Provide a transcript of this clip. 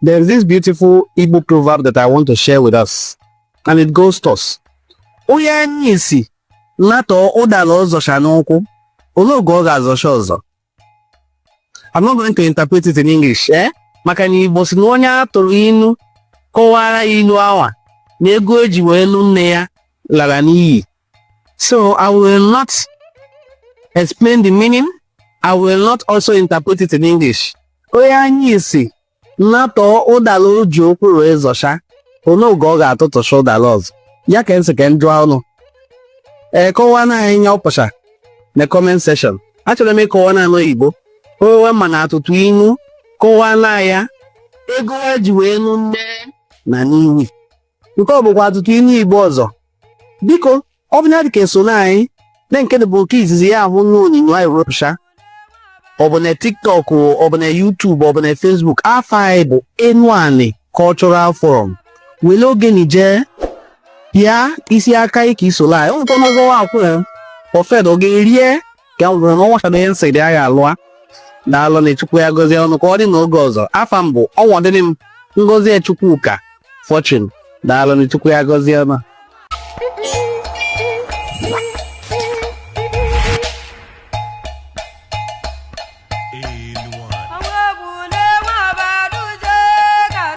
There is this beautiful Igbo proverb that I want to share with us, and it goes thus. Onye anya isi latọọ ụdala ọ zọcha n'ụkwụ, olee oge ọ ga-azọcha ọzọ? I'm not going to interpret it in English, eh? Maka na Igbo sị na onye a tụrụ inu kọwara inu anwa na ego e ji wee nụ nne ya lara n'iyi So I will not explain the meaning. I will not also interpret it in English. Onye anya isi natọọ ụdala o ji ụkwụ wee zọcha olee oge ọ ga-atụtụcha ụdala ọzọ ya ka m sị ka m jụọ ụnụ e kọwaana anyị ihe ọ pụcha na comment section achọrọ m ịkọwa n'ọnụ Igbo owe ma na atụtụ inu kọwaana ya ego e ji wee nụ nne na n'iwi nke a bụkwa atụtụ inu Igbo ọzọ biko ọ bụ na ị dịka esona anyị na nke bụ nke izizi ya ahụ n'onyinyo anyị wepụcha ọ bụ na TikTok ọ bụ na YouTube ọ bụ na Facebook afa anyị bụ Enuani Cultural Forum wele oge nije ya isi aka ị ka i sola anyị ọ bụkwa n'ụgwọ akwụ ya ofed ọ ga-erie ka m rụrụ n'ọnwa na ihe nsị dị agha alụa daalụ na Chukwu ya gọzie ụnụ ka ọ dị n'oge ọzọ afa m bụ Ọnwọdị Ngozichukwuka Fortune daalụ na Chukwu ya gọzie ụnụ